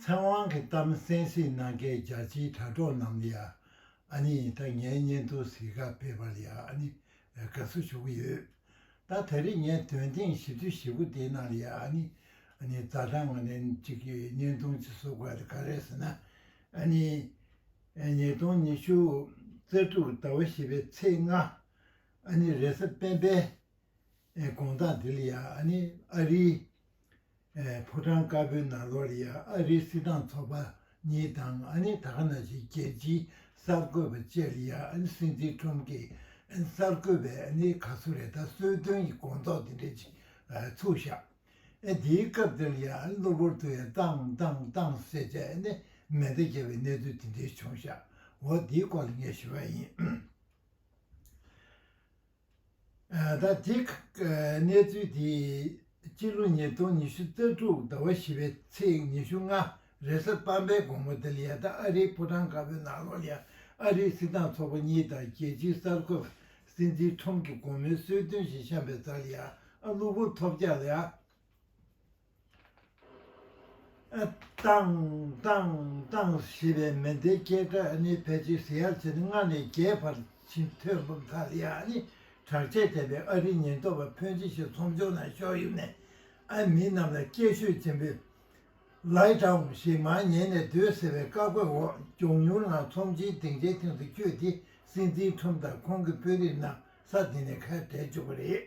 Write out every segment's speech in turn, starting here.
ཚེ་དབང་གི་གཏམ་གསན་གཟིགས་གནང་མཁན་རྒྱ་ཆེའི་དྲ་གྲོགས་རྣམས་ལ་ཡང་ཨ་ནི་ད་ངའི་སྙན་ཐོ་གཟིགས་ཁག་སྤེལ་པར་ཡང་ཨ་ནི་དགའ་བསུ་ཞུ་གི་ཡོད། ད་ད་རེས་ངས་དོན་སྟེང་ཞིབ་ཏུ་ཞིབ་པོ་དེའི་ནང་ལ་ཡང་ཨ་ནི་ཨ་ནི་རྩ་གྲངས་ཨ་ནི་གཅིག་གི་སྙན་ཐོ་གཅིག་བཟོ་དགོས་ད་ག་རེ་ཟེར་ན་ཨ་ནི་ཨ་ཉིས་སྟོང་ཉི་ཤུ་རྩ་དྲུག་ཟླ་བ་བཞི་པའི་ཚེས་ལྔ་ཨ་ནི་རེས་གཟའ་སྤེན་པའི་དགོངས་དག་འདི་ལ་ཡང་ཨ་ནི་ཨ་རིའི། ཕོ་བྲང་དཀར་པོའི་ནང་ལོར་ཡང་ཨ་རིའི་སྲིད་ཏང་ཚོགས་པ་གཉིས་དང་ཨ་ནེ་དྷ་ན་ཞིག་རྒྱལ་སྤྱིའི་གསར་འགོད་པ་བཅས་ལ་ཡང་ཨ་ནེ་སྲིད་འཛིན་ཁྲོམ་གྱི་གསར་འགོད་པའི་ཨ་ནེ་ག་སུ་རེ་ད་གསོལ་སྟོན་གྱི་དགོངས་དོགས་དེ་འདྲ་ཅིག་ཚུགས་བཞག་ཨེ་དེའི་སྐབས་དེར་ཡང་ཨ་ནེ་གློ་བུར་དུ་ཡང་ཏང་ཏང་ཏང་ཟེར་བྱས་ཨེ་ནེ་མེ་མདའ་བརྒྱབ་པའི་གནས་ཚུལ་དེ་འདྲའི་བྱུང་བཞག་འོ་དེའི་སྐོར་ལ་ངས་ཞུ་བ་ཡིན། ད་རྗེས་གནས་ཚུལ་དེ་སྤྱི་ལོ་ཉིས་སྟོང་ཉི་ཤུ་རྩ་དྲུག་ཟླ་བ་བཞི་པའི་ཚེས་ཉི་ཤུ་ལྔ་རེས་གཟའ་སྤར་པའི་དགོང་མོ་དེར་ཡ་ཐ་ཨ་རིའི་ཕོ་བྲང་དཀར་པོའི་ནང་ལོགས་ཡ་ཨ་རིའི་སྲིད་ཏང་ཚོགས་པ་གཉིས་དང་རྒྱལ་སྤྱིའི་གསར་འགོད་པ་སྲིད་འཛིན་ཁྲོམ་གྱི་དགོང་མོའི་གསོལ་སྟོན་བཞིན་བཤམས་པའི་རྩར་ཡ་ཨ་གློ་བུར་ཐོབ་རྒྱག་ལ། ཏང། ཏང། ཏང་ཞེས་པའི་མེ་མདའི་སྐད་སྒྲ་ནི་ཕལ་ཆེར་ཟེར་ཡག་བྱེད་ན་ལྔ་ནས་བརྒྱའི་བར་ཕྱིན་ཐོས་འབབ་མཐའ་ཡས་ནི་དྲག་ཆས་བྱས་པའི་ཨ་རིའི་ཉེན་རྟོག་པ་ཕོན་ཆེ་ཞིག་ཚོམ་བྱུང་ན་ཤོག་ཡུམ་ནས་ཨ་མི་རྣམས་ལ་སྐད་ཤུགས་ཆེན་པོས། Lie Down། ཞེས་མར་ཉལ་ནས་སྡོད་ཟེར་བའི་བཀའ་བཀོད་འོག་མགྱོགས་མྱུར་ངང་ཚོམ་བྱེད་སྡིངས་ཆའི་སྟེང་དུ་བསྐྱོད་དེ་སྲིད་འཛིན་ཁྲོམ་དང་ཁོང་གི་དཔོན་རིགས་རྣམས་ས་དེ་ནས་ཁ་བྲལ་བཅུག་པ་རེད།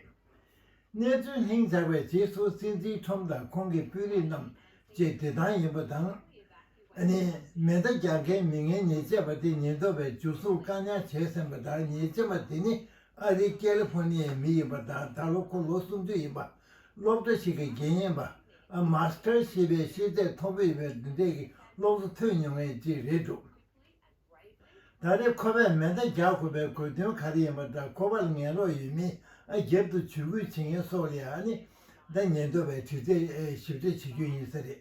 གནས་ཚུལ་ལྷིང་འཇགས་པའི་རྗེས་སུ་སྲིད་འཛིན་ཁྲོམ་དང་ཁོང་གི་དཔོན་རིགས་རྣམས་བཅས་བདེ་ཐང་ཡིན་པ་དང། ནི་མེ་མདའ་རྒྱག་མཁན་མི་ངན་ཉེས་ཆད་པ་དེ་ཉེན་རྟོག་པས་འཇུ་བཟུང་བཀག་ཉར་བྱས་ཟིན་པ་དང་ཉེས་ཆད་པ་དེ་ནི་ཨ་རིའི་ཀེ་ལི་ཕོར་ནི་ཡའི་མི་ཡིན་པ་དང་ད་ལོ་ཁོ་ལོ་སུམ་ཅུ་ཡིན་པ། སློབ་གྲྭ་ཞིག་གི་དགེ་བསྙེན་པ། Master། ཞེས་པའི་ཤེས་ཚད་མཐོ་པོ་ཡོད་པའི་བདུན་ཕྲད་ཀྱི་སློབ་གསོ་ཐོས་མྱོང་མཁན་གཅིག་རེད་འདུག། ད་རེས་ཁོ་པས་མེ་མདའ་རྒྱག་དགོས་པའི་དགོས་དོན་ག་རེ་ཡིན་པ་འདྲ་ཁོ་པར་ངན་ལོག་ཡོད་མིན་ཨ་རྒྱབ་ཏུ་ཇུས་འགོད་བྱེད་མཁན་སོགས་ལ་ཡང་ནི་ཟླ་ཉེར་བདོ་བའི་དྲི་རྩད་ཞིབ་ཕྲ་བྱེད་རྒྱུ་ཡིན་ས་རེད།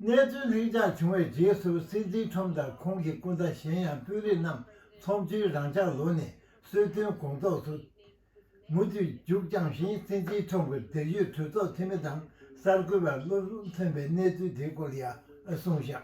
གནས་ཚུལ་ལྷིང་འཇགས་བྱུང་བའི་རྗེས་སུ་སྲིད་འཛིན་ཁྲོམ་དང་ཁོང་གི་སྐུ་ཟླ་གཞན་ཡང་དཔོན་རིགས་རྣམས་ཚོགས་ཆུང་རང་འཇགས་ལོ་ནས་གསོལ་སྟོན་དགོངས་རྫོགས་སུ། མུ་མཐུད་མཇུག་བསྐྱངས་བཞིན་སྲིད་འཛིན་ཁྲོམ་གྱི་འབྲེལ་ཡོད་གྲོས་ཚོགས་འཐུས་མི་དང་གསར་འགོད་པར་བློ་ལྷུང་ཐོན་པའི་གནས་ཚུལ་དེའི་སྐོར་ལ་ཡང་གསུངས་བཞག་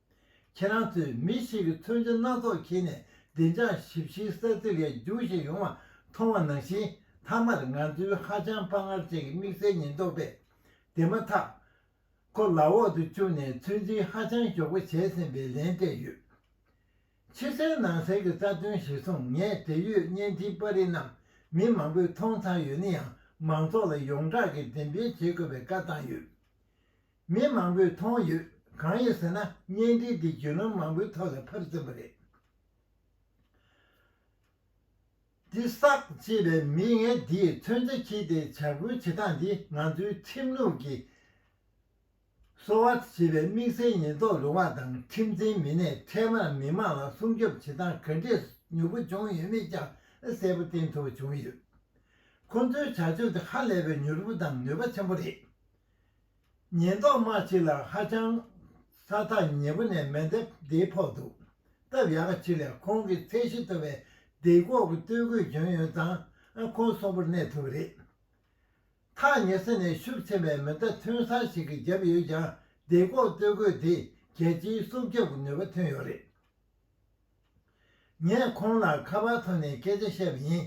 ཁྱེད་རང་ཚོས་མི་ཞིག་གི་མཚོན་བྱ་སྣ་ཚོགས་འཁྱེར་ནས་བདེ་འཇགས་ཞིབ་བཤེར་ས་ཚིགས་ལ་རྒྱུགས་བཞིན་ཡོང་བ་མཐོང་བ་ནང་བཞིན་མཐའ་མར་ང་ཚོའི་ཧ་ཅང་དཔའ་ངར་ཅན་གྱི་དམིགས་བསལ་ཉེན་རྟོག་པས་དེ་མ་ཐག་ཁོ་ལག་འོག་ཏུ་བཅུག་ནས་ཚོད་འཛིན་ཧ་ཅང་མགྱོགས་པོ་བྱས་ཟིན་པའི་ལན་སྤྲད་ཡོད། ཕྱི་གསལ་ནང་གསལ་གྱི་རྩ་དོན་གཞིར་བཟུང་ངས་འབྲེལ་ཡོད་བརྙན་འཕྲིན་པར་རིས་རྣམས་མི་མང་པོས་མཐོང་ཚར་ཡོད་ན་ཡང་མང་ཚོགས་ལ་ཡོངས་གྲགས་ཀྱིས་འགྲེམས་སྤེལ་བྱེད་དགོས་པའི་བཀའ་བཏང་ཡོད། མི་མང་པོས་མཐོང་ཡོད། གང་ཡིན་ཟེར་ན་བརྙན་འཕྲིན་འདི་བརྒྱུད་ལམ་མང་པོའི་ཐོག་ལ་ཕར་བཙིར་བ་རེད། འདི་བསགས་ཅེས་པའི་མིས་ངན་འདིས་མཚོན་ཆ་འཁྱེར་ཏེ་བྱ་འགུལ་བྱེད་སྟངས་འདི་ང་ཚོའི་ཁྲིམས་ལུགས་ཀྱི་གསོ་བ་བྱེད་པའི་དམིགས་བསལ་ཉེན་རྟོག་རུ་དབང་དང་ཁྲིམས་འཛིན་མི་སྣས་འཕྲལ་མར་མི་མང་ལ་སྲུང་སྐྱོབ་བྱེད་སྟངས་ག་འདྲས་མྱུར་པོ་བྱུང་ཡོད་མེད་ཀྱང་གསལ་པོ་བསྟན་ཐུབ་པ་བྱུང་ཡོད། ཁོ་ཚོའི་བྱ་སྤྱོད་འདི་ཧ་ལས་པའི་མྱུར་པོ་དང་ནུས་པ་ཆེན་པོ་རེད། ཉེན་རྟོག་དམག་ཕྱི་ལ་ཧ་ཅང་ས་ཐག་ཉེ་པོ་ནས་མེ་མདའི་སྡེ་ཕོག་འདུག་སྟབས་ཡག་གི་ཕྱི་ལ་ཁོང་གི་ཚད་གཞི་མཐོ་བའི་སྡེ་ཁོག་གི་སྟོད་གོས་གྱོན་ཡོད་ཙང་ཁོང་གསོན་པོར་གནས་ཐུབ་རེད། ཐག་ཉེ་ས་ནས་ཤུབས་ཆེན་པའི་མེ་མདའ་ཐོན་སར་ཞིག་གིས་བརྒྱབ་ཡོད་ཀྱང་སྡེ་ཁོག་སྟོད་གོས་དེས་རྒྱལ་སྤྱིའི་སྲོག་སྐྱབས་ཀྱི་ནུས་པ་ཐོན་ཡོད་རེད། ངས་ཁོང་ལ་ཁ་པར་ཐོག་ནས་སྐད་ཆ་བཤད་པ་ཡིན།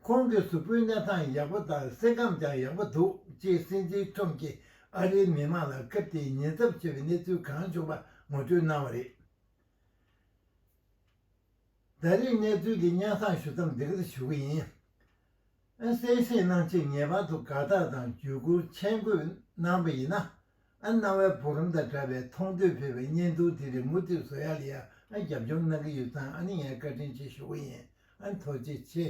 ཁོང་གི་གཟུགས་པོའི་གནས་སྟངས་ཡག་པོ་དང་སེམས་ཁམས་ཀྱང་ཡག་པོ་འདུག་ཅེས་སྲིད་འཛིན་ཁྲོམ་གྱིས་ཨ་རིའི་མི་མང་ལ་སྐབས་དེའི་ཉེན་ཚབས་ཆེ་བའི་གནས་ཚུལ་གང་བྱུང་པ་ངོ་སྤྲོད་གནང་བ་རེད། ད་རེས་གནས་ཚུལ་འདི་སྙན་གསང་ཞུ་མཚམས་འདི་གར་ཞུ་གི་ཡིན། ཨན་གསལ་བཤད་གནང་ཆེད་ངེས་པར་དུ་དགའ་རྟགས་དང་བརྒྱུད་བསྐུར་མཆན་འགོད་གནང་བ་ཡིན། ཨན་སྣང་བའི་བུ་རམ་དང་འདྲ་བའི་མཐོང་ཐོས་ཕེར་བའི་བརྙན་ཐུང་དེ་རིགས་མུ་མཐུད་བཟོ་ཡག་ལེ་ཡག་ཨན་རྒྱབ་སྐྱོར་གནང་གི་ཡོད་ཙང་ཨན་ནི་ངའི་བཀའ་དྲིན་ཆེ་ཞུ་གི་ཡིན་ཨན་ཐུགས་རྗེ་ཆེ།